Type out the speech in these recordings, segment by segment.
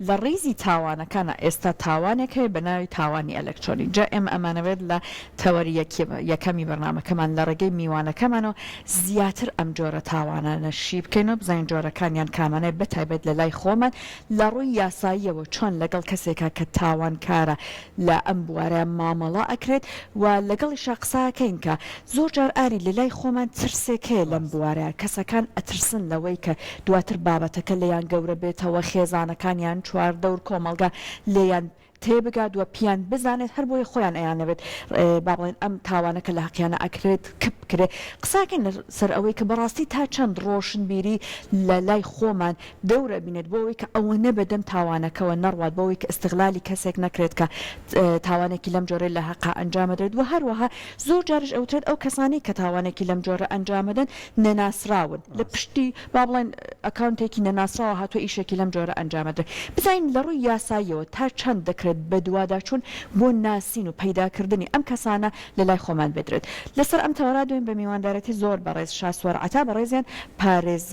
لە ڕیزی تاوانەکانا ئێستا تاوانێک هەیە بە ناوی تاوانی ئەلەکترۆنی جا ئێمە ئەمانەوێت لە تەوەری یەکەمی بەرنامەکەمان لە ڕێگەی میوانەکەمانەوە زیاتر ئەم جۆرە تاوانانە شی بکەین و بزانین جۆرەکانیان کامانەیە بەتایبەت لە لای خۆمان لە ڕووی یاساییەوە چۆن لەگەڵ کەسێکا کە تاوانکارە لە ئەم بوارە مامەڵە ئەکرێت و لەگەڵیشا قسەئەکەین کە زۆر جار ئاری لەلای خۆمان ترسێک هەیە لەم بوارە کەسەکان ئەترسن لەوەی کە دواتر بابەتەکە لێیان گەورە بێتەوە خێزانەکان یان چواردەور کۆمەڵگا لێیان تێبگات و پیان بزانێت هەر بۆیە خۆیان ئەیانەوێت با بڵێن ئەم تاوانەکە لە حەقیانا ئەکرێت کپ بکرێت قساکەین لە سەر ئەوەی کە بەڕاستی تا چەند ڕۆشنبیری لە لای خۆمان دەورە بینێت بۆ ئەوەی کە ئەوەنە بە دەم تاوانەکەوە نەڕوات بۆ ئەوەی کە ئیستغلالی کەسێک نەکرێت کە تاوانێکی لەم جۆرەی لە هەقا ئەنجامەدرێت وە هەروەها زۆر جاریش ئەوترێت ئەو کەسانەی کە تاوانێکی لەم جۆرە ئەنجامەدەن نەناسراون لە پشتی با بڵێن ئەکاونتێکی نەناسراوە هاتوە ئیشێکی لەم جۆرە ئەنجامەدرێت بزانین لە ڕووی یاساییەوە تا چەند دەکرێت بەدواداچون بۆ ناسین و پەیداکردنی ئەم کەسانە لە لای خۆمان بدرێت لەسەر ئەم تەوەرا دێم بە میواندارێتی زۆر بەڕێز شاسوار عەتا بەڕێزیان پارێز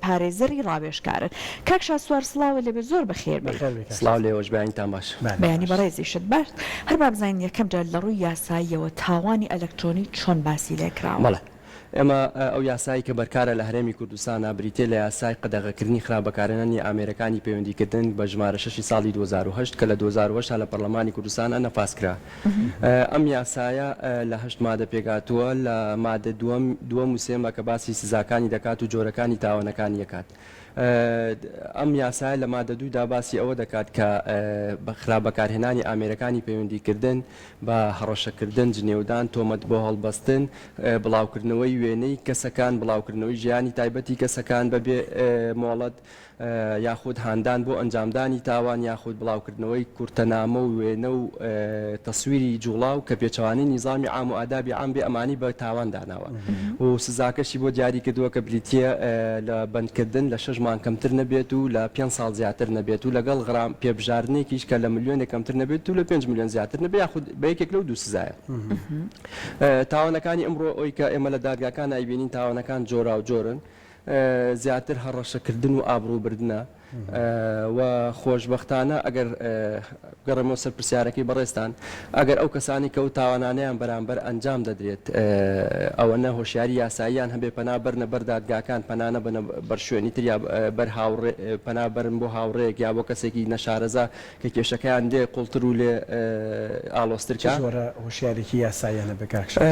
پارێزەری ڕاوێژکارن. کاک شاسوار سڵاوت لێبێت زۆر بەخێر بێیت. بەخێر بێی کاک سڵاو شاسوار. لێوەش بەیانیتان باش. بەیانی بەڕێزیشت باش. هەر با بزانین یەکەم جار لە ڕووی یاساییەوە تاوانی ئەلەکترۆنی چۆن باسی لێ کراوە؟ بەڵێ. ئێمە ئەو یاسایەی کە بەرکارە لە هەرێمی کوردستانا بریتییە لە یاسای قەدەغەکردنی خراپ بەکارهێنانی ئامێرەکانی پەیوەندیکردن بە ژمارە شەشی ساڵی دوو هەزار و هەشت کە لە دوو هەزار و هەشت لە پەرلەمانی کوردستانا نەفاز کرا. ئەم یاسایە لە هەشت مادە پێکهاتووە، لە مادە دووەم، دووەم و سێمە کە باسی سزاکانی دەکات و جۆرەکانی تاوانەکانی دەکات. ئەم یاسایە لە مادە دوو دا باسی ئەوە دەکات کە بە خراپ بەکارهێنانی ئامێرەکانی پەیوەندیکردن بە هەڕەشەکردن، جنێودان، تۆمەت بۆ هەڵبەستن، بڵاوکردنەوەی وێنەی کەسەکان، بڵاوکردنەوەی ژیانی تایبەتی کەسەکان بەبێ مۆڵەت، یاخود هاندان بۆ ئەنجامدانی تاوان یاخود بڵاوکردنەوەی کورتەنامە و وێنە و تەسویری جوڵاو کە پێچەوانەی نیزامی عام و ئادابی عام بێ ئەمانی بە تاوان داناوە و سزاکەشی بۆ دیاری کردووە کە بریتییە لە بەندکردن لە شەش مانگ کەمتر نەبێت و لە پێنج ساڵ زیاتر نەبێت و لەگەڵ غرام پێبژاردنێکیش کە لە ملیۆنێک کەمتر نەبێت و لە پێنج ملیۆن زیاتر نەبێت یاخود بە یەکێک لەو دوو سزایە. تاوانەکانی ئەمڕۆ ئەوەی کە ئێمە لە دادگاکان ئەیبینین تاوانەکان جۆراوجۆرن زیاتر هەڕەشەکردن و ئابڕووبردنە و خۆشبەختانە ئەگەر بگەڕێمەوە سەر پرسیارەکەی بەڕێزتان ئەگەر ئەو کەسانەی کە ئەو تاوانانەیان بەرامبەر ئەنجام دەدرێت ئەوەنە هۆشیاری یاساییان هەبێت پەنا بەرنە بەر دادگاکان پەنا نەبەنە بەر شوێنی تر یا بەر هاوڕێ پەنا بەرن بۆ هاوڕێیەک یا بۆ کەسێکی نەشارەزا کە کێشەکەیان لێ قوڵتر و لێ ئاڵۆزتر کا. چ جۆرە هۆشیارێکی یاساییانە بە کاک شاد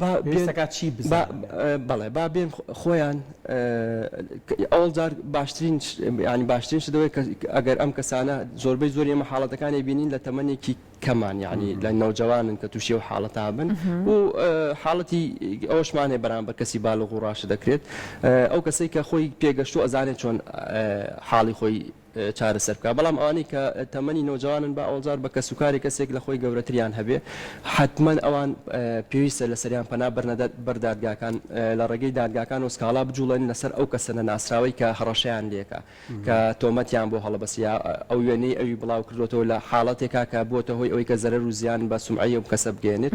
با بێن، پێویست دەکات چی بزانن یان؟ بەڵێ با بێن خۆیان ئەوڵ جار باشترین یانی باشترین شت ئەوەیە کە ئەگەر ئەم کەسانە زۆربەی زۆری ئێمە حاڵەتەکان ئەیبینین لە تەمەنێکی کەمان یانی لە نەوجەوانن کە تووشی ئەو حاڵەتە بن و حاڵەتی ئەوەشمان هەیە بەرامبەر کەسی بالغ و ڕاشد دەکرێت ئەو کەسەی کە خۆی پێگەشتووە ئەزانێت چۆن حاڵی خۆی چارەسەر بکات بەڵام ئەوانەی کە تەمەنی نەوجەوانن با ئەوجار بە کەس و کاری کەسێک لە خۆی گەورەتریان هەبێ حەتمەن ئەوان پێویستە لەسەریان پەنا بەرنە بەر دادگاکان لە ڕێگەی دادگاکانەوە سکاڵا بجوڵێن لەسەر ئەو کەسە نەناسراوەی کە هەڕەشەیان لێکا کە تۆمەتیان بۆ هەڵەبەست یا ئەو وێنەی ئەوی بڵاو کردۆتەوە لە حاڵەتێکا کە بووەتە هۆی ئەوەی کە زەرەر و زیان بە سومعەی ئەو کەسە بگەیەنێت.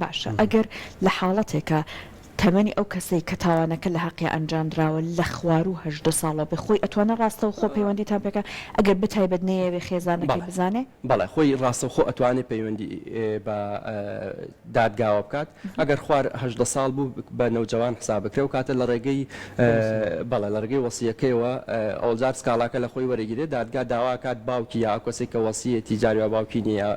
باشە ئەگەر لە حاڵەتێکا تەمەنی ئەو کەسەی کە تاوانەکە لە حەقیا ئەنجامدراوە لە خواروو هەژدە ساڵە بێ خۆی ئەتوانێ ڕاستەوخۆ پەیوەندیتان پێکا ئەگەر بە تایبەت نەیەوێ خێزانەکەی بزانێ؟ بەڵێ خۆی ڕاستەوخۆ ئەتوانێ پەیوەندی بە دادگاوە بکات ئەگەر خوار هەژدە ساڵ بوو بە نەوجەوان حساب بکرێ ئەو کاتە لە ڕێگەی بەڵێ لەڕێگەی وەسیەکەیەوە ئەوڵ جار سکاڵاکە لەخۆی وەرەگیرێت دادگا داواکات باوکی یا ئەوکەسەی کە وەسیەتی جاری وا باوکی نیە یا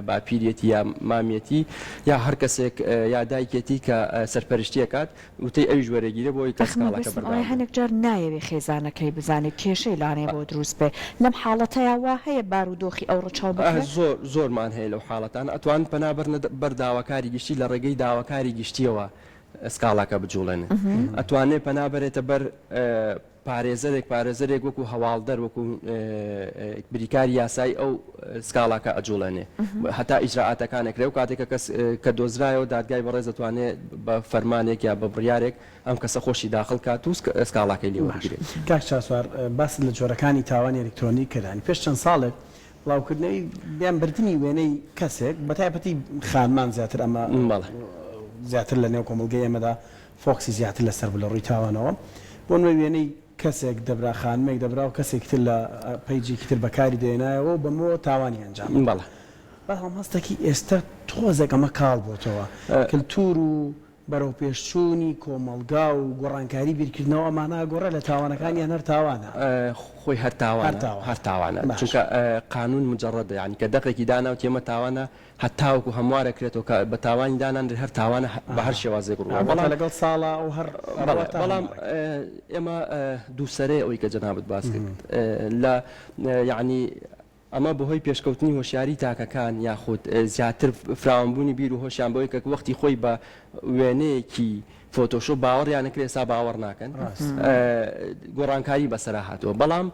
باپیریەتی یا مامیەتی یا هەرکەسێک یا دایکێتی کە سەرپەرشتی ئەکات وتەی ئەویش وەرەگیرێ بۆ ئەوی کە سکاڵاکە بەردەوام بێت. هەنێک جار نایەوێ خێزانەکەی بزانێ کێشەی لانێ بۆ دروست بێ لەم حاڵەتەیا وا هەیە بارو دۆخی ئەو ڕەچاو بکرێ؟ زۆر زۆرمان هەیە لەو حاڵەتانە ئەتوان پەنا بەرنە بەر داواکاری گشتی لەڕێگەی داواکاری گشتیەوە سکاڵاکە بجوڵێنێت ئەتوانێت پەنا بەرێتە بەر پارێزەرێک پارێزەرێک وەکو هەواڵدەر وەکو بریکار یاسایی ئەو سکاڵاکە ئەجوڵێنێ هەتا ئیجرراعاتەکانێک لەو کاتێکە کەس کە دۆزرایەوە دادگای بەڕێز دەتوانێت بە فەرمانێک یا بە بڕیارێک ئەم کەسە خۆشی داخل کات و سکاڵاکەی لێوەگرێت کاک چاسوار باست لە جۆرەکانی تاوانی ئەلکترۆنی کردانی پێش چەند ساڵێک بڵاوکردنەوەی یان بردنی وێنەی کەسێک بە تایبەتی خانمان زیاتر ئەمە زیاتر لە نێو کۆمەڵگەی ئێمەدا فۆکسی زیاتر لەسەر بوو لە ڕووی تاوانەوە بۆ نموونە وێنەی کەسێک دەبرا خانمێک دەبرا و کەسێکی تر لە پەیجێکی تر بەکاری دەهێنایەوە و بەمەوە تاوانی ئەنجام دەدا بەڵام هەستەکی ئێستە تۆزێک ئەمە کاڵ بۆتەوە کلتور و بەرەوپێشچوونی کۆمەڵگا و گۆڕانکاری بیرکردنەوە ئەمانە ئاگۆڕێ لە تاوانەکان یان هەر تاوانە؟ خۆی هەر تاوانە هەر تاوانە چونکە قانون مجەڕەدە یانی کە دەقێکی داناوتی ئەمە تاوانە هەتاوەکو هەموارە کرێتەوە کە بە تاوانی دانانرێ هەر تاوانە بە هەر شێوازێک ڕووە بەڵام لەگەڵ ساڵە ئەو هەر بەڵام ئێمە دووسەرەیە ئەوی کە جەنابت باس کرد لە یانی ئەمە بەهۆی پێشکەوتنی هۆشیاریی تاکەکان یاخود زیاتر فراوانبوونی بیر و هۆشیان بەوەی کە وەختی خۆی بە وێنەیەکی فۆتۆشۆپ باوەڕیان نەکرد ئێستا باوەڕ ناکەن گۆڕانکاری بەسەرا هاتووە بەڵام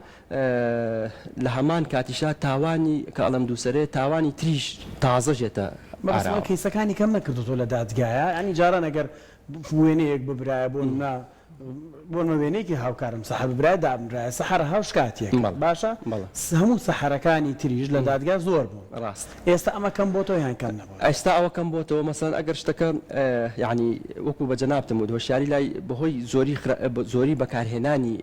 لە هەمان کاتیشا تاوانی کە ئەڵێم دووسەرێ تاوانی تریش تازە ژێتە ئاراوە. کەیسەکانی کەم نەکردۆتەوە لە دادگایا یانی جاران ئەگەر وێنەیەک ببرایە بۆ نمونە بۆ نۆ وێنەیەکی هاوکارم سەحەر برای دابنرایە سەحەر هاو شکاتیەک باشە هەموو سەحەرەکانی تریش لە دادگا زۆر بوو ڕاست ئێستا ئەمە کەم بۆ تۆ یان کەم نەبوو ئەستا ئەوە کەم بۆ تۆ مەسەن ئەگەر شتەکە یعنی وەکو بە جەنابتم و هۆشیاری لای بەهۆی زۆری زۆری بەکارهێنانی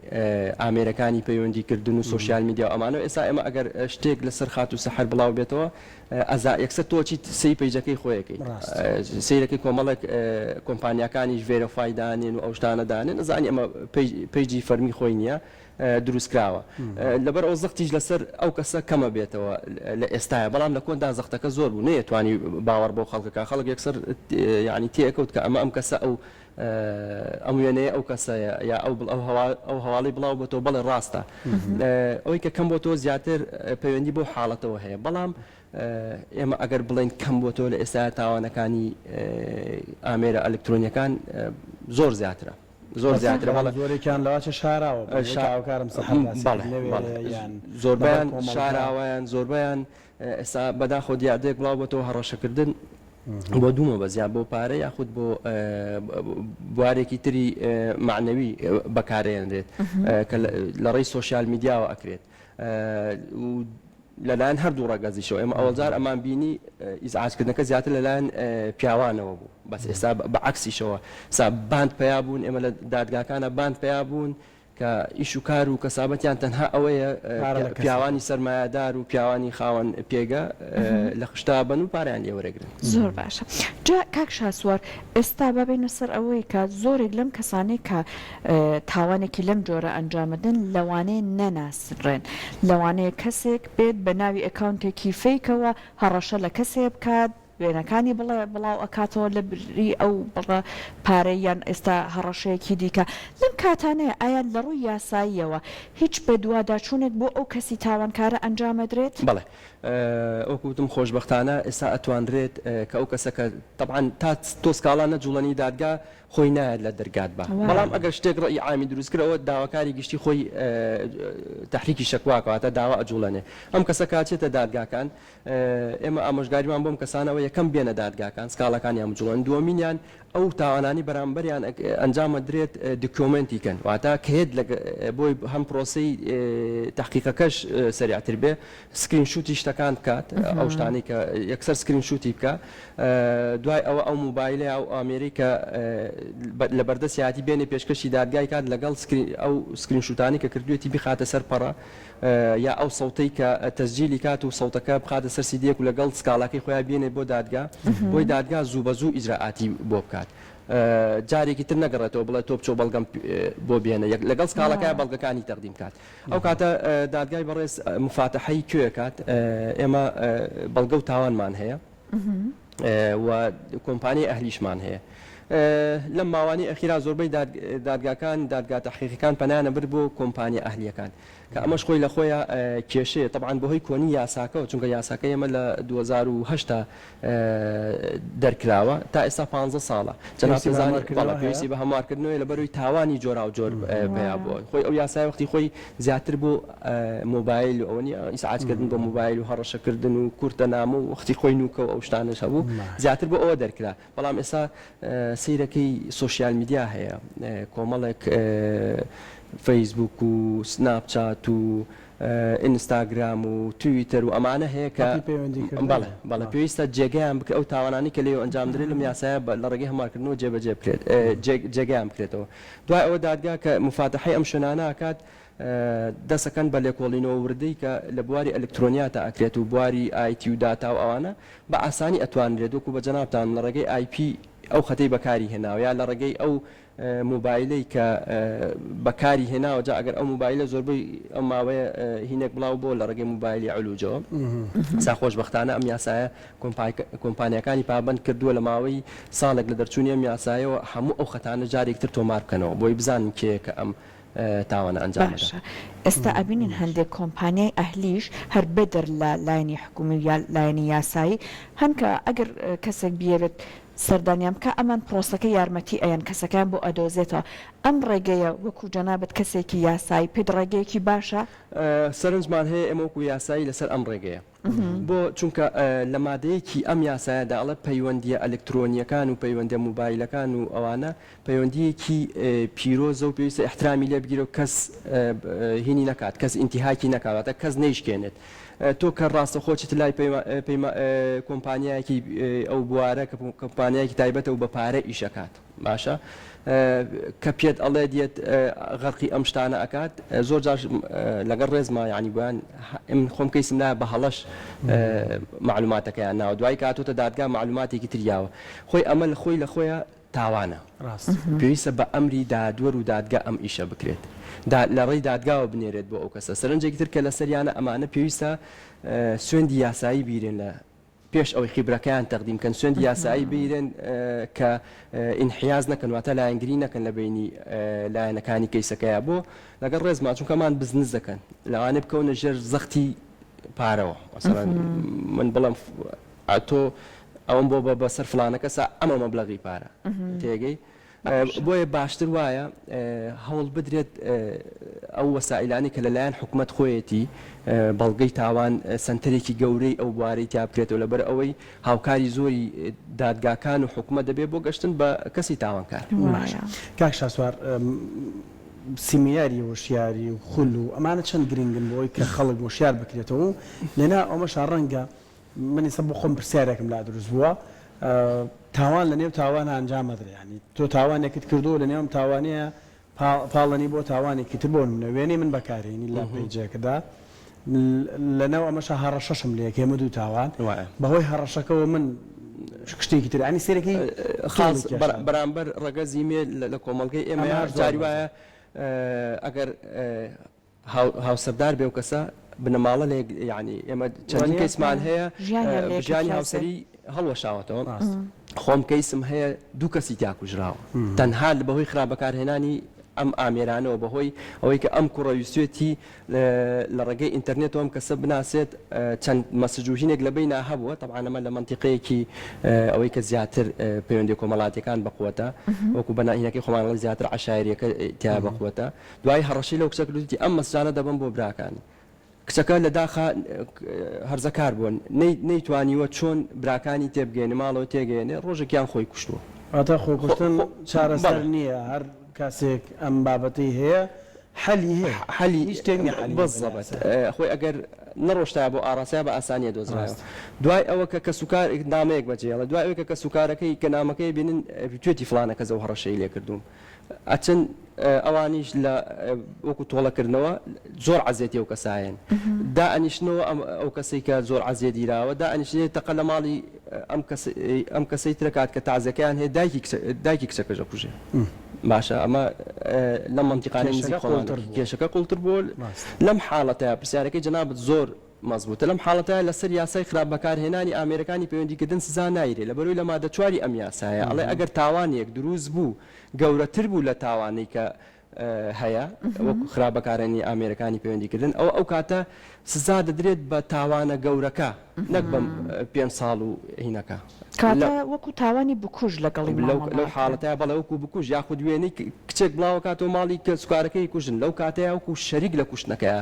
ئامێرەکانی پەیوەندیکردن و سوۆسیال میدیا ئەمانەوە ئێستا ئێمە ئەگەر شتێک لەسەر خات و سەحەر بڵاو بێتەوە ئەزا یەکسەر تۆ چیت سەی پەیجەکەی خۆیەکەی سیرەکەی کۆمەڵێک کۆمپانیەکانیش ڤێرەفای دانێن و ئەوشتانە دانێن ئەزانی ئەمە پەیجی فەرمی خۆی نییە دروستکراوە لەبەر ئەو زەختیش لەسەر ئەو کەسە کەمە بێتەوە لە ئێستاە بەڵام لە کۆندا زەختەکە زۆر بوو نەیە توانی باوەڕ بۆ خەڵکەکە خەڵک یەکسەر ینی تێکەوت کە ئەمە ئەم کەسە ئەو ئەم وێنەیە ئەو کەسەیە یا ئەو بڵ ئەو هەواڵی بڵاو بۆتەوە بەڵێ ڕاستە ئەوەی کە کەم بۆ تۆ زیاتر پەیوەندی بۆ حاڵەتەوە هەیە بەڵام ئێمە ئەگەر بڵێن کەم بۆ تۆ لە ئێستا تاوانەکانی ئامێرە ئەلکترۆنیەکان زۆر زیاترە زۆر زیاتر بەڵە زۆرێکیان لەواچە شاراوە شاوکارم سەحەکارم زۆربیان شاراوەیان زۆربیان ئێستا بەداخەوە دیاردەیەک بڵاو بۆتەوە هەڕەشەکردن بۆ دوو مەبەست یان بۆ پارە یاخود بۆ بوارێکی تری معنەوی بەکارێنرێت کە لە ڕێی سوۆسیال میدیاوە ئەکرێت لەلایەن هەردوو ڕگەزیشەوە ئێمە ئەوەزار ئەمان بینی ئیزعاجکردنەکە زیاتر لەلایەن پیاوانەوە بوو بەس ئێستا بە عکسیشەوە سا باند پیا بوون ئێمە لە دادگاکانە باند پیا بوون کە ئیش و کار و کەسابەتیان تەنها ئەوەیە پیاوانی سەرمایەدار و پیاوانی خاوەن پێگە لە خشتەوە بن و پارەیان لێ وەرەگرن. زۆر باشە جا کاک شاسوار ئێستا با بێینە سەر ئەوەی کە زۆرێک لەم کەسانەی کە تاوانێکی لەم جۆرە ئەنجام ئەدەن لەوانەیە نەناسرێن لەوانەیە کەسێک بێت بە ناوی ئەکاونتێکی فەیکەوە هەڕەشە لە کەسێ بکات، وێنەکانی بڵێ بڵاو ئەکاتەوە لە بری ئەو بڕە پارەی یان ئێستا هەڕەشەیەکی دیکە لەم کاتانەیە ئایا لە ڕووی یاساییەوە هیچ بەدواداچوونێک بۆ ئەو کەسی تاوانکارە ئەنجام ئەدرێت؟ بەڵێ وەکو وتم خۆشبەختانە ئێستا ئەتوانرێت کە ئەو کەسە کە تەبعەن تا تۆ سکاڵا نەجوڵێنی دادگا خۆی نایەت لە دەرگاتبا بەڵام ئەگەر شتێک ڕەئی عامی دروست کرد ئەوە داواکاری گشتی خۆی تەحریکی شەکوا کە واتە داوا ئەجوڵێنێ ئەم کەسە کاتێتە دادگاکان ئێمە ئامۆژگاریمان بۆم کەسانەوە یەکەم بێنە دادگاکان سکاڵاکانیان بجوڵێن دووەمینیان ئەو تاوانانی بەرامبەریان ئەنجام ئەدرێت دیکۆمێنتی کەن واتا کەێت لە بۆی هەم پرۆسی تحقیقەکەش سریعتر بێ سکرین شوتی شتەکان بکات ئەو شتانی کە یەکسەر سکرین شوتی بکە دوای ئەوە ئەو موبایلە ئەو ئامێری کە لە بەردەسیاتی بێنێ پێشکەشی دادگای کات لەگەڵ ئەو سکرین شوتانی کە کردوێتی بخاتە سەر پەڕە یا ئەو سەوتەی کە تەسجیلی کات و سەوتەکە بخاتە سەر سیدیەک و لەگەڵ سکاڵاکەی خۆیا بێنێت بۆ دادگا بۆی دادگا زوو بە زوو ئیجرائاتی بۆ بکات جارێکی تر نەگەڕێتەوە بڵێ تۆ بچۆ بەڵگەم بۆ بێنە یەک لەگەڵ سکاڵەکەی بەڵگەکانی تەقدیم کات ئەو کاتە دادگای بەڕێز مفاتەحەی کوێ کات ئێمە بەڵگە و تاوانمان هەیە و کۆمپانیای ئەهلیشمان هەیە لەم ماوانی ئەخیرا زۆربەی دادگاکان دادگا تحقیقەکان پەنانە بر بۆ کۆمپانیا ئەهلیەکان کە ئەمەش خۆی لە خۆیا کێشەیە تەبعەن بۆ هۆی کۆنی یاساکەوە چونکە یاساکەی ئێمە لە دوو هەزار و هەشت دەرکراوە تا ئێستا پانزە ساڵە جەنابت دەزانێت بەڵێ پێویستی بە هەموارکردنەوەیە لە بەروی تاوانی جۆراوجۆر پیا بووە خۆی ئەو یاسای وەختی خۆی زیاتر بۆ مۆبایل و ئەوە نیە ئیسعاجکردن بۆ مۆبایل و هەڕەشەکردن و کورتە نامە و وەختی خۆی نوکە و ئەو شتانەش هەبوو زیاتر بۆ ئەوە دەرکرا بەڵام ئێستا سەیرەکەی سۆشیال میدیا هەیە کۆمەڵێک فەیسبووک و سناپ چات و ئینستاگرام و تویتەر و ئەمانە هەیە کە ئەپی پەیوەندیکردن بەڵێ هەیە. بەڵێ باشە. پێویستە جێگەیان بکە ئەو تاوانانەی کە لێو ئەنجام درێت لەم یاسایە بە لە ڕێگەی هەموارکردنەوە جێبەجێ بکرێت جێ جێگەیان بکرێتەوە دوای ئەوە دادگا کە موفاتەحەی ئەم شوێنانە ئەکات دەسەکەن بە لێکۆڵینەوە وردەی کە لە بواری ئەلکترۆنیاتا ئەکرێت و بواری ئایتی و داتا و ئەوانە بە ئاسانی ئەتوانرێت وەکو بە جەنابتان لە ڕێگەی ئای پی ئەو خەتەی بەکاری هێناوە یا لە ڕێگەی ئەو موبایلەی کە بەکاری هێناوە جا ئەگەر ئەو موبایلە زۆربەی ئەم ماوەیە هینێک بڵاو بۆ لە ڕێگەی موبایلی علوجەوە سا خۆشبەختانە ئەم یاسایە کۆمپانیەکانی پابند کردووە لە ماوەی ساڵێک لە دەرچوونی ئەم یاسایەوە هەموو ئەو خەتانە جارێکتر تۆمار بکەنەوە بۆی بزانن کێیە کە ئەم تاوانە ئەنجام بدات. باشە ئێستا ئەبینین هەندێک کۆمپانیای ئەهلیش هەر بەدەر لە لایەنی حکومی و یا لایەنی یاسایی هەن کە ئەگەر کەسێک بیەوێت سەردانیان بکا ئەمان پرۆسەکە یارمەتی ئەیەن کەسەکەیان بۆ ئەدۆزێتەوە ئەم ڕێگەیە وەکو جەنابت کەسێکی یاسایی پێت ڕێگەیەکی باشە؟ سەرنجمان هەیە ئێمە وەکو یاسایی لەسەر ئەم ڕێگەیە. بۆ؟ چونکە لە مادەیەکی ئەم یاسایەدا ئەڵێ پەیوەندییە ئەلکترۆنییەکان و پەیوەندیە موبایلەکان و ئەوانە پەیوەندییەکی پیرۆزە و پێویستە ئیحترامی لێ بگیرێ و کەس هینی نەکات، کەس ئینتیهاکی نەکات، واتە کەس نەیشکێنێت. تۆ کە ڕاستەوخۆ چیت لای کۆمپانیایەکی ئەو بوارە کە کۆمپانیایەکی تایبەتە و بە پارە ئیش ئەکات. باشە کە پێت ئەڵێ دێت غەرقی ئەم شتانە ئەکات زۆر جاش لەگەڵ ڕێزما یعنی بۆیان من خۆم کەیسم لای بە هەڵەش معلوماتەکەیان ناوە دوای کاتۆتە دادگا معلوماتێکی تریاوە خۆی ئەمە لە خۆی لە خۆیە تاوانە ڕاست پێویستە بە ئەمری دادوەر و دادگا ئەم ئیشە بکرێت لە ڕێی دادگاوە بنێرێت بۆ ئەو کەسە سەرنجێکی تر کە لەسەریانە ئەمانە پێویستە سوێندی یاسایی بیرێن لە پێش ئەوەی خیبرەکەیان تەقدیم کەن سوێندی یاسایی بگیرێن کە ئینحیاز نەکەن واتە لایەنگری نەکەن لە بینی لایەنەکانی کەیسەکەیە بۆ لەگەڵ ڕێزما چونکە مان بزنس دەکەن لەوانێ بکەونە ژێر زەختی پارەوە مثلا من بڵم ئەتۆ ئەوم بۆ بە بەسەر فلانەکەسا ئەمە مەبلغی پارە تێگەی بۆیە باشتر وایە هەوڵ بدرێت ئەو وەسائیلانەی کە لەلایەن حکومەت خۆیەتی بەڵگەی تاوان سەنتەرێکی گەورەی ئەو بوارەی تیا بکرێتەوە لەبەر ئەوەی هاوکاری زۆری دادگاکان و حکومەت دەبێت بۆ گەشتن بە کەسی تاوانکار. باشە کاک شاسوار سیمیناری وشیاری و خول و ئەمانە چەند گرنگن بۆ ئەوەی کە خەڵک وشیار بکرێتەوە و لەناو ئەمەشا ڕەنگە من ئیستا بۆ خۆم پرسیارێکم لا دروست بووە تاوان لە نێو تاوان ئەنجام ئەدرێ یانی تۆ تاوانێکت کردووە لە نێو ئەم تاوانەیە پا پاڵنی بۆ تاوانێکی تر بۆ نمونە وێنەی من بەکارێنی لە پەیجێکدا لە ناو ئەمەشە هەڕەشەشم لێ کەی ئەمە دوو تاوان وایە بە هۆی هەڕەشەکەوە من شتێکی تر یانی سێرەکەی خاڵ خاڵ بەر بەرامبەر ڕەگەزی مێ لە لە کۆمەڵگەی ئێمە یان جاری وایە ئەگەر هاوسەردار بێ ئەو کەسە بنەماڵە لە یەک یانی ئێمە چەندین کەیسمان هەیە ژیانی هاوسەری هەڵوەشاوەتەوە خۆم کەیسم هەیە دوو کەسی تیاکوژراوە تەنها لە بەهۆی خراپ بەکارهێنانی ئەم ئامێرانەوە بەهۆی ئەوەی کە ئەم کوڕە ویستێتی لە ڕێگەی ئینتەرنێتەوە ئەم کەسە بناسێت چەند مەسجوژینێک لە بیننا هەبووە تەعاانەمە لە منتیقەیەکی ئەوەی کە زیاتر پەیوەندی کۆمەڵاتەکان بەقوتە وەکو بەناهینەکەی خۆمانڵی زیاتر عشاعرەکە تیا بەقوتە دوای هەڕەشەی لەو کچە کردوویەتی ئەم مەسجانە دەبەم بۆ براکانی. کچەکە لە داخا هەرزەکار بووە، نەیتوانیوە چۆن براکانی تێبگەیەنێ، ماڵەوە تێگەیەنێ، ڕۆژێکیان خۆی کوشتووە. واتە خۆکوشتن چارەسەر نییە، هەر کاسێک ئەم بابەتەی هەیە حەلی هەیە، هیچ شتێک نییە حەلی نەبێت لە ئاسایە. بەزەبەت. خۆی ئەگەر نەڕۆشتایە بۆ ئاراستەیا بە ئاسانی ئەدۆزرایەوە. دوای ئەوە کە کەسوکار نامەیەک بەجێ هێڵێ، دوای ئەوەی کە کەسوکارەکەی کە نامەکەی ئەبینن، توێتی فڵانە کەس ئەو هەڕەشەی لێ کردووم. ئەچن ئەوانیش لە وەکو تۆڵەکردنەوە زۆر عەزێتی ئەو کەسایەن دا ئەنیشنەوە ئەم ئەو کەسەی کە زۆر عەزێدیراوە دا ئەنیشێت تەقە لە ماڵی ئەم کەسەی ترەکات کە تازەکەیان هەیە دایکی کچەکەژە کوژێ باشە ئەمە لە منتیقانەی کێشەکە قوڵتر بۆ لەم حاڵەتە پرسیارەکەی جەنابەت زۆر مەزبووتە لەم حاڵەتە لەسەر یاسای خراپ بەکارهێنانی ئامێرەکانی پەیوەندیکردن سزا نایرێ لەبەرئەوەی لە مادە چوار ی ئەم یاسایە ئەڵێ ئەگەر تاوانێک دروست بوو گەورەتر بوو لە تاوانەی کە هەیە وەکو خراپ بەکارهێنانی ئامێرەکانی پەیوەندیکردن ئەوە ئەو کاتە سزا دەدرێت بە تاوانە گەورەکە نەک بەم پێنج ساڵ و هینەکە کاتە وەکو تاوانی بکوژ لەگەڵی مامەڵە ئەکرێ. لەو حاڵەتە بەڵێ وەکو بکوژ یاخود وێنەی کچێک بڵاوکاتەوە ماڵی کە سوکارەکەی کوژن لەو کاتەیە وەکو شەریک لە کوشتنەکەیە.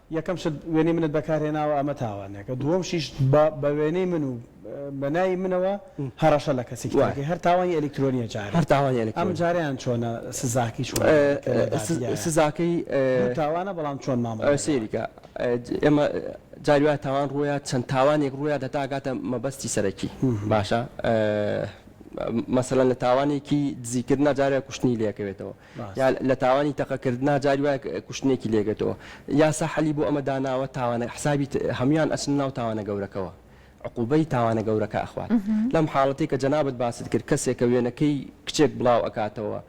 یەکەم شت وێنەی منت بەکار هێناوە ئەمە تاوانێکە دووەم شیش بە بە وێنەی من و بە ناوی منەوە هەڕەشە لە کەسێکی تر دەکەی هەر تاوانی ئەلیکترۆنیە جارێ هەر تاوانی ئەلیکترۆنی ئەم جارەیان چۆنە سزاکەی چۆنە ئەلیکترۆنی سزاکەی دوو تاوانە بەڵام چۆن مامەڵە دەکەی سەیری کە ئێمە جاری وایە تاوان ڕوویە چەند تاوانێک ڕوویە دە تا گاتە مەبەستی سەرەکی باشە مەسەلەن لە تاوانێکی دزیکردنا جارێ کوشتنی لێکەوێتەوە یا لە تاوانی تەقە کردنا جاری وایە کوشتنێکی لێگەتەوە یاسا حەلی بۆ ئەمە داناوە تاوانە حسابی هەموان ئەچنە ناو تاوانە گەورەکەوە عقوبەی تاوانە گەورەکە ئەخوات لەم حاڵەتەی کە جەنابت باست کرد کەسێک کە وێنەکەی کچێک بڵاو ئەکاتەوە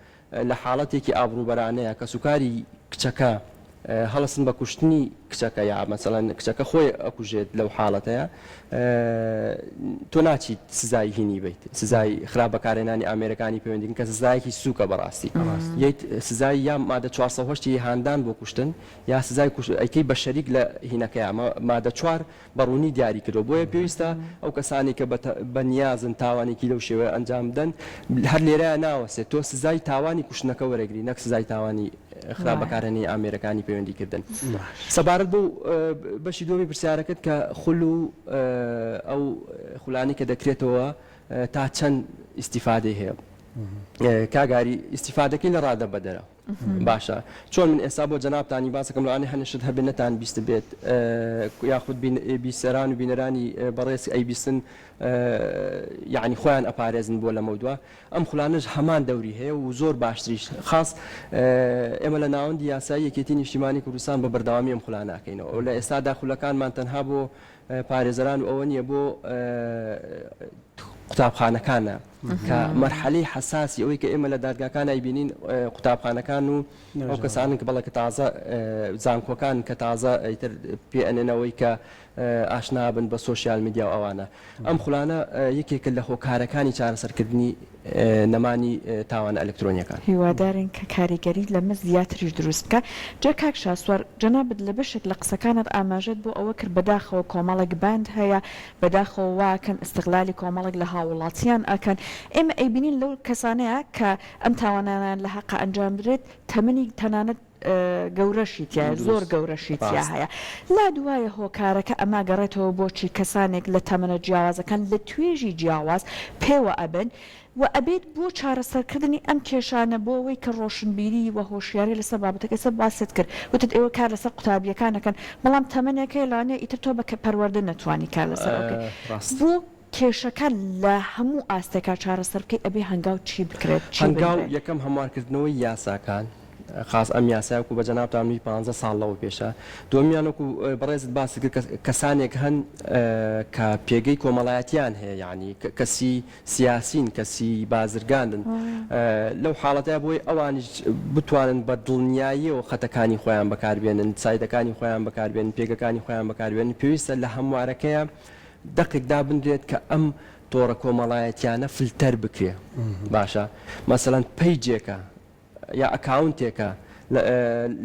لە حاڵەتێکی ئابڕوبەرانەیە کەسوکاری کچەکە هەڵەسن بە کوشتنی کچەکە یا مەسەلەن کچەکە خۆی ئەکوژێت لەو حاڵەتەیە تۆ ناچیت سزای هینی بیت سزای خراپ بەکارێنانی ئامێرەکانی پەیوەندین کە سزایەکی سوکە بەڕاستی یت سزای یا مادە 4 هاندان بۆ کوشتن یا سزای ئەیکەی بە شەریک لە هینەکەی ئەمە مادە چوار بە ڕوونی دیاری کردووە، بۆیە پێویستە ئەو کەسانەی کە بە نیازن تاوانێکی لەو شێوەیە ئەنجام بدەن، هەر لێرەیە ناوەستێت تۆ سزای تاوانی کوشتنەکە وەرەگری نەک سزای تاوانی خراپ بەکارهێنانی ئامێرەکانی پەیوەندی کردن. سەبارەت بەو بەشی دووەمی پرسیارەکەت کە خول و ئەو خولانەی کە دەکرێتەوە تا چەند ئیستیفادەی هەیە، کاک ئاری ئیستیفادەکەی لە ڕادەبەدەرە، باشە چۆن من ئێستا بۆ جەنابتانی باسەکەم لەوانێ هەنێ شت هەبێ نەتان بیست بێت یاخود بیسەران و بینەرانی بەڕێز ئەی بیستن یعنی خۆیان ئەپارێزن بۆ لەمە دووە ئەم خولانش هەمان دەوری هەیە و زۆر باشتریش خاص ئێمە لە ناوەندی یاسایی یەکێتی نیشتیمانی کوردستان بە بەردەوامی ئەم خولاناکەینەوە لە ئێستادا خولەکانمان تەنها بۆ پارێزەران و ئەوە نییە بۆ قوتابخانەکانە کە مەرحەلەی حەساسی ئەوەی کە ئێمە لە دادگاکان ئەیبینین قوتابخانەکان و ئەو کەسانن کە بەڵێ کە تازە زانکۆکان کە تازە ئیتر پێ ئەنێنەوەی کە ئاشنابن بە سوۆسیال میدیا و ئەوانە ئەم خولانە یەکێکە لە هۆکارەکانی چارەسەرکردنی نەمانی تاوانە ئەلکترۆنیەکان هیوادارین کە کاریگەری لەمە زیاتریش دروست بکە جا کاک شاسوار جەنابت لە بەشێک لە قسەکانت ئاماژەت بۆ ئەوە کرد بەداخەوە کۆمەڵێک باند هەیە بەداخەوە وا کەم ئیستغلالی کۆمەڵێک لە هاووڵاتیان ئەکەن، ئێمە ئەیبینین لەو کەسانەیە کە ئەم تاوانانەیان لە هەقە ئەنجام بدرێت تەمەنی تەنانەت گەورەشی تیایە زۆر دروست گەورەشی تیا ڕاست. هەیە لا دوایە هۆکارەکە ئەما گەڕێتەوە بۆچی کەسانێک لە تەمەنە جیاوازەکان لە توێژی جیاواز پێوە ئەبن و ئەبێت بۆ چارەسەرکردنی ئەم کێشانە بۆ ئەوەی کە ڕۆشنبیری و هۆشیاری لەسەر بابەتەکە سەر باست کرد وتت ئێوە کار لەسەر قوتابیەکان ئەکەن بەڵام تەمەنێکەی لانێ ئیتر تۆ بە پەروەردە نەتوانی کار لەسەر ئەو کرد بۆ کێشەکە لە هەموو ئاستێکا چارەسەر بکەی ئەبێ هەنگاو چی بکرێت چی بنرێت؟ هەنگاو یەکەم هەموار کردنەوەی یاساکان خاس ئەم یاسای وەکو بە جەنابتان وی پانزە ساڵ لەوە پێشە دومیان وەکو بەڕێزت باست کرد کەسانێک هەن کە پێگەی کۆمەڵایەتیان هەیە یعنی کەسی سیاسین کە سی بازرگانن لەو حاڵەتە بۆی ئەوانیش بتوانن بە دڵنیاییەوە خەتەکانی خۆیان بەکاربێنن سایدەکانی خۆیان بەکاربێن پێگەکانی خۆیان بەکاربێن پێویستە لە هەموارەکەیە دەقێک دابنرێت کە ئەم تۆڕە کۆمەڵایەتیانە فلتەر بکرێ باشە مەسەەن پەیجێکە یا ئەکاونتێکە لە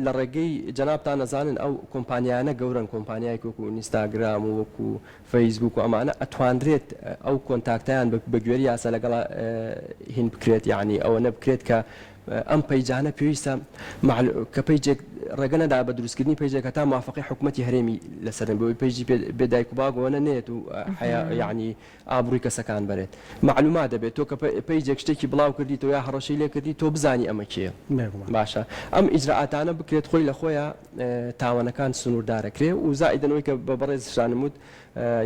لە ڕێگەی جەنابتان ئەزانن ئەو کۆمپانیایانە گەورەن کۆمپانیایەک وەکو ئینستاگرام و وەکو فەیسبووک و ئەمانە ئەتوانرێت ئەو کۆنتاکتەیان بە گوێری یاسا لەگەڵا هین بکرێت یعنی ئەوەنە بکرێت کە ئەم پەیجانە پێویستە کە پەیجێک ڕێگە نەدا بە دروستکردنی پەیجێک هەتا موافقی حکوومەتتی هەرێمی لەسەرن بۆی پەیجی بێدایک و باگۆنە نێت و حیا یعنی ئابڕوی کەسەکان بەرێت مەعلومات دەبێت تۆ کە پەیجێک شتێکی بڵاو کردیتەوە یا هەڕەشەی لێ کردی تۆ بزانی ئەمە کێیە باشە ئەم ئیجرائاتانە بکرێت خۆی لە خۆیە تاوەنەکان سنوردارە کرێ و زائیدەن ئەوەی کە بە بەڕێز شانم وت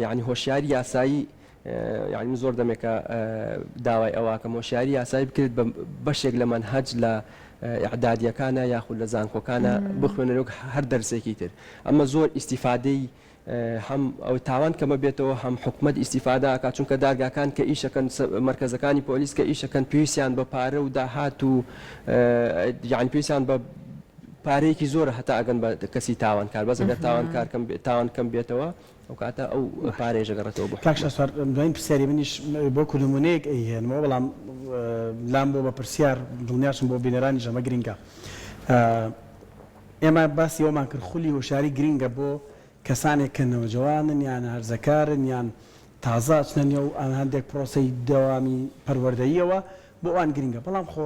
یعنی هۆشیاری یاسایی یعنی من زۆر دەمێکە داوای ئەواکەم هۆشیاری یاسایی بکرێت بە بەشێک لە مەنهەج لە ئعدادیەکانە یاخود لە زانکۆکانە بخوێنەرۆک هەر دەرسێکی تر ئەمە زۆر ئیسیفادەی هەم تاوان کەمە بێتەوە هەم حکومەت ئیستیفادە ئەکات چونکە دادگاکان کە ئیشەکەن مەرکەزەکانی پۆلیس کە ئیشەکەن پێویستیان بە پارە و داهات و یان پێویستیان بە پارەیەکی زۆرە هەتا ئەگەن بە کەسی تاوانکار بەس ئەگەر تاوانکار کەم تاوان کەم بێتەوە ئەو کاتە ئەو پارێژە گەڕێتەوە بۆ کاک شاسوار دوایین پرسیاری منیش بۆ کودنمونەیەک ئەیهێنمەوە بەڵام لام بۆ بە پرسیار دڵنیاشم بۆ بینەرانیش ئەمە گرنگە ئێمە باسی ئەوەمان کرد خولی هۆشیاری گرینگە بۆ کەسانێک کە نەوجەوانن یان هەرزەکارن یان تازە ئەچنە نێو هەندێک پرۆسەی دەوامی پەروەردەییەوە بۆ ئەوان گرینگە بەڵام خۆ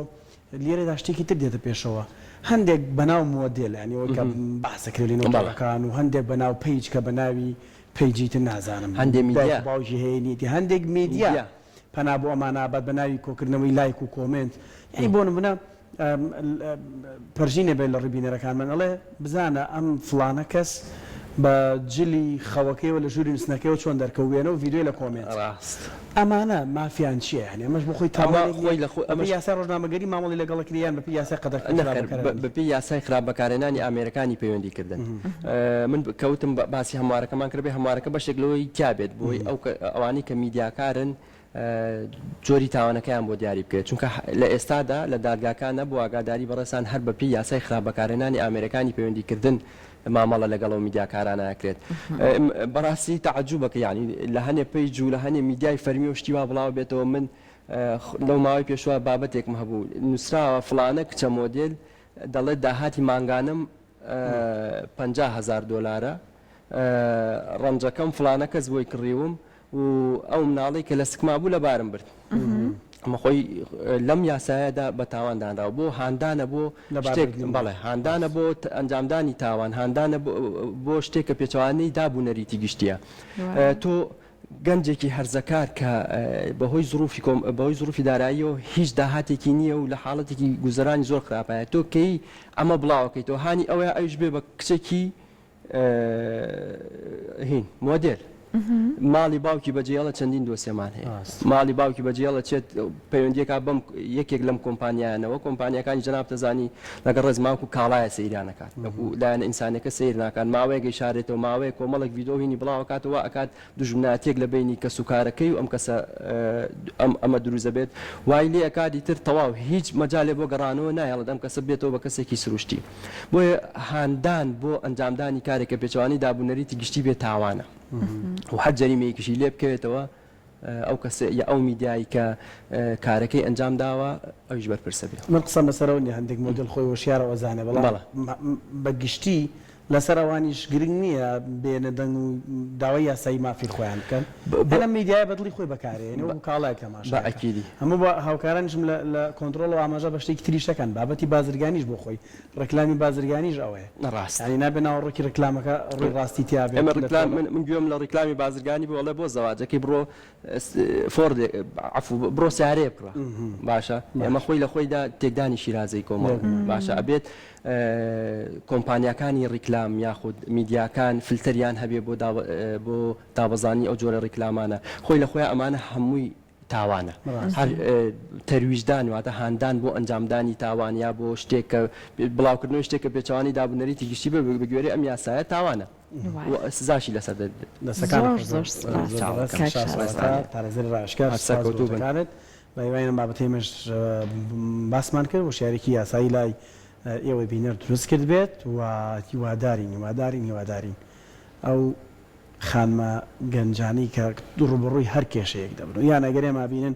لێرەدا شتێکی تر دێتە پێشەوە هەندێک بەناو مۆدێل یانی ئەوەی کە بەحس دەکرێت لە نێو تۆڕەکان و هەندێک بەناو پەیج کە بەناوی پەیجی تر نازانم هەندێک دایک و باوکی هەیە نیەتی هەندێک میدیا پەنا بۆ ئەمانە ئەبات بەناوی کۆکردنەوەی لایک و کۆمێنت یانی بۆ نموونە پەرژینێ بێت لە ڕووی بینەرەکانمان ئەڵێ بزانە ئەم فڵانە کەس بە جلی خەوەکەیەوە لە ژووری نووستنەکەیەوە چۆن دەرکەوت وێنە و ڤیدیۆی لە کۆمێنت ڕاست ئەمانە مافیان چییە یانی ئەمەش بۆ خۆی تاوان ئەمە خۆی لە خۆی ئەمەش بەپێی یاسای ڕۆژنامەگەری مامەڵەی لەگەڵ کرێ یان بەپێی یاسای قەدەغە کراوە نەخێر بەکارە بە- بەپێی یاسای خراپ بەکارهێنانی ئامێرەکانی پەیوەندی کردن من ب- کەوتم بە- باسی هەموارەکەمان کردبێ هەموارەکە بەشێک لەوەی تیابێت بۆی ئەو کە- ئەوانەی کە میدیاکارن جۆری تاوانەکەیان بۆ دیاری بکرێت چونکە لە ئێستادا لە دادگاکان نەبوو ئاگاداری بەڕێزتان هەر بەپێی یاسای خراپ بەکارهێنانی ئامێرەکانی پەیوەندی کردن مامەڵە لەگەڵ ئەو میدیاکارانە ئەکرێت بەڕاستی تەعجوبە کە یانی لە هەنێ پەیج و لە هەنێ میدیای فەرمی و شتی وا بڵاو بێتەوە من لەو ماوەی پێشوە بابەتێکم هەبوو نووسراوە فلانە کچە مۆدل دەڵێت داهاتی مانگانم پ هزار دلارە ڕەنجەکەم فلانە کەس بۆی کڕیوم و ئەو مناڵەی کە لە سکما بوو لەبارم برد ئەمە خۆی لەم یاسایەدا بە تاوان دانراوە بۆ هاندانە بۆ شتێک بەڵێ هاندانە بۆ ئەنجامدانی تاوان هاندانە بۆ شتێک کە پێچوانەی دابوو نەریتی گشتیە تۆ گەنجێکی هەرزەکار کە بەهۆی زروفی کۆم بەهۆی زروفی دارایی و هیچ داهاتێکی نییە و لە حاڵەتێکی گوزەرانی زۆر خراپایە تۆ کەی ئەمە بڵاوەکەیتەوە هاانی ئەوەیە ئەوش بێ بە کچێکی هین مۆدێل ماڵی باوکی بەجێڵە چەندین دۆسێمان هەیە ماڵی باوکی بەجێڵە چێت پەیوەندیەکە بم یەکێک لەم کۆمپانیانەوە کۆمپانیەکانی جناب تەزانی لەگەڵ ڕێزماکو کاڵایە سەیرانەکان لەکو لایەن ئینسانەکە سیر ناکات ماوەیەگەی شارێتەوە ماوەیە کۆمەڵک یددیوهینی بڵاوکاتەوە ئەکات دوژمنایەتیەک لە بەینی کەس و کارەکەی و ئەم کەسە ئەم ئەمە دروست دەبێت وای لێ ئەکات ئیتر تەواو هیچ مەجالێ بۆ گەڕانەوە نایە ئەڵێت ئەم کەسە بێتەوە بە کەسێکی سروشتی بۆیە هاندان بۆ ئەنجامدانی کارێک کە پێچەوانەی داب و نەریتی گشتی بێ تاوانە و هەر جەریمەیەکیشی لێ بکەوێتەوە ئەو کەسە یا ئەو میدیایی کە کارەکەی ئەنجام داوە ئەویش بەرپرسە بێت من قسەم لەسەرەوە نیە هەندێک مۆدێل خۆی هۆشیارە و ئەزانێ بەڵام بەڵێ. بە گشتی لەسەر ئەوانیش گرنگ نیە بێنە دەنگ و داوای یاسایی مافی خۆیان بکەن هەر ئەم میدیایە بەدڵی خۆی بەکارێنێ و کاڵای تەماشا کە هەموو بە هاوکارانیشم لە لە کۆنتڕۆڵ و ئاماژە بە شتێکی تریش دەکەن بابەتی بازرگانیش بۆ خۆی ڕێکلامی بازرگانیش ئەوەیە ڕاستە یانی نابێ ناوەڕۆکی ڕێکلامەکە ڕووی ڕاستی تیابێت ئێمە ڕێکلام من گوێم لە ڕێکلامی بازرگانی بوو ئەڵێ بۆ زەواجەکەی بڕۆ فۆڕ عەفو بڕۆ سیارەیە بکڕە باشە ئێمە خۆی لە خۆیدا تێکدانی شیرازەی کۆمەڵ باشە ئەبێت کۆمپانیاکانی ڕیکلام یاخود میدیاکان فلتەریان هەبێ بۆ بۆ دابەزانی ئەو جۆرە ڕیکلامانە خۆی لە خۆیان ئەمانە هەمووی تاوانە هەر تەرویژدان واتە هاندان بۆ ئەنجامدانی تاوانیا بۆ شتێکە بڵاوکردنەوەی شتێکە پێچوانی دابنەریتی گشتی بە بگوێرە ئەم یاسایە تاوانە سزاشی لەسەر دەرکەوت. بەهیوای بابەتەی ئێمەش باسمان کرد و شارێکی یاسایی لای ئێوەی بینەر دروست کرد بێت و هیوادارین هیوادارین هیوادارین ئەو خانمە گەنجانەی کە ڕووبەڕووی هەر کێشەیەک دەبن و یان ئەگەر ئێمە بینن